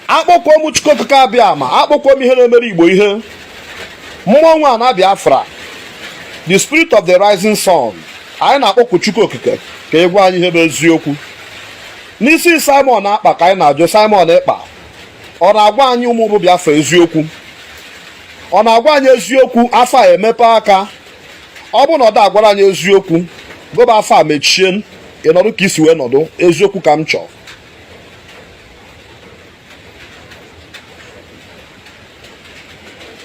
akpọkuo m Chukwu Okike Abịama akpọkuo m ihe na-emere Igbo ihe mmụọ nwe ana Biafra the spirit of the rising sun anyị na-akpọkụ Chukwu Okike ka ị gwa anyị ihe bụ eziokwu n'isi Simon Ekpa ka anyị na-ajụ Simon Ekpa ọ na-agwa anyị ụmụ bụ Biafra eziokwu ọ na-agwa anyị eziokwu afa emepe aka ọ bụrụ na ọ da agwara anyị eziokwu goba afa mechie ị nọdụ ka i si wee nọdụ eziokwu ka m chọọ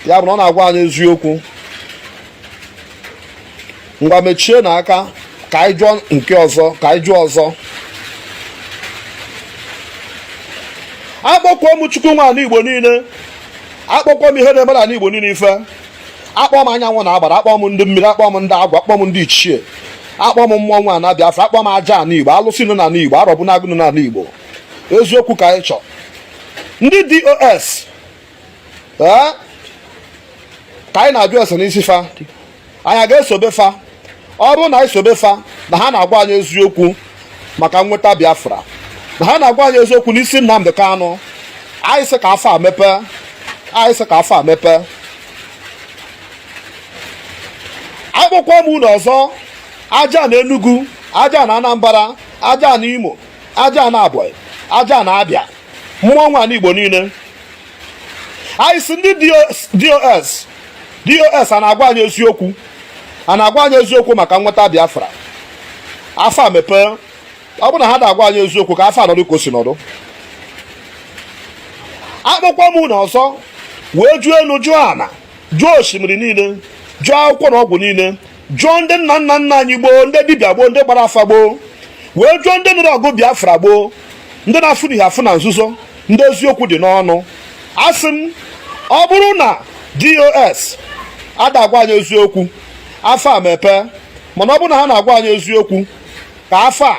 ya bụ na ọ na-agwa anyị eziokwu ngwa mechie na aka ka anyị jụọ nke ọzọ ka anyị jụọ ọzọ akpọkuo m chukwu nwe anị igbo niile akpọkuo m ihe na-emere ndị igbo niile ife akpọ m anyanwụ na agbara akpọ m ndị mmiri akpọ m ndị agwa akpọ m ndị ichie akpọ m mmụọ nwe ana Biafra akpọ m aja ana Igbo alụsị nọ n'ana Igbo arọbụnagụ nọ n'ana Igbo eziokwu ka anyị chọọ ndị DOS ka anyị na-ajụ ese n'isi fa anyị ga-esobe fa ọ bụrụ na anyị sobe fa na ha na-agwa anyị eziokwu maka nweta Biafra na ha na-agwa anyị eziokwu n'isi Nnamdi Kanu anyị sị ka afa mepe anyị sị ka afa a mepe akpọkwa m unu ọzọ aja ana Enugu aja ana Anambra aja ana Imo aja ana Ebonyi aja ana Abịa mmụọ nwe anị Igbo niile anyị sị ndị dos dos a na-agwa anyị eziokwu a na-agwa anyị eziokwu maka nweta biafra afa mepee ọ bụrụ na ha da agwa anyị eziokwu ka afa nọdụ ka o si nọdụ akpọkwa m unu ọzọ wee jụọ enu jụọ ana jụọ osimiri niile jụọ akwụkwọ na ọgwụ niile jụọ ndị nna nna nna anyị gboo ndị dibịa gboo ndị gbara afa gboo wee jụọ ndị nụrụ ọgụ biafra gboo ndị na-afụ n'ihe afụ na nzuzo ndị eziokwu dị n'ọnụ asị m ọ bụrụ na dos ada agwa anyị eziokwu afa a mepe mana ọ bụrụ na ha na-agwa anyị eziokwu ka afa a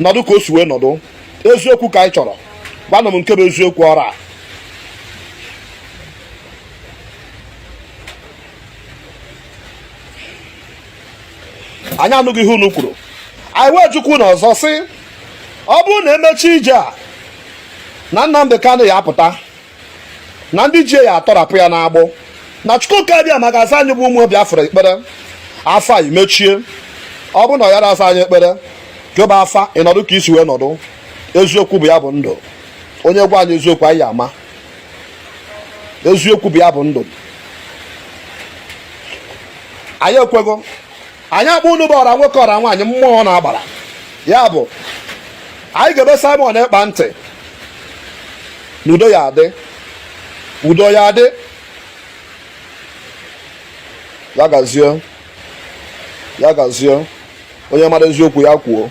nọdụ ka o si wee nọdụ eziokwu ka anyị chọrọ gwanụ m nke bụ eziokwu ọrụ a anyị anụghị ihe unu kwuru anyị wee jụkwa unu ọzọ sị ọ bụrụ na emechi ije a na Nnamdi Kanu ya apụta na ndị ji ya atọrapụ ya n'agbụ na Chukwu Okike Abịama ga-aza anyị bụ ụmụ Biafra ekpere afa emechie ọ bụrụ na ọ yara aza anyị ekpere keba afa ị nọdụ ka i si wee nọdụ eziokwu bụ ya bụ ndụ onye gwa anyị eziokwu anyị ama eziokwu bụ ya bụ ndụ anyị ekwego anyị akpọ unu bụ ọra nwoke ọra nwaanyị mmụọ na agbara ya bụ anyị gebe Simon Ekpa ntị na udo ya adị udo ya adị ya gazie ya gazie onye mara eziokwu ya kwuo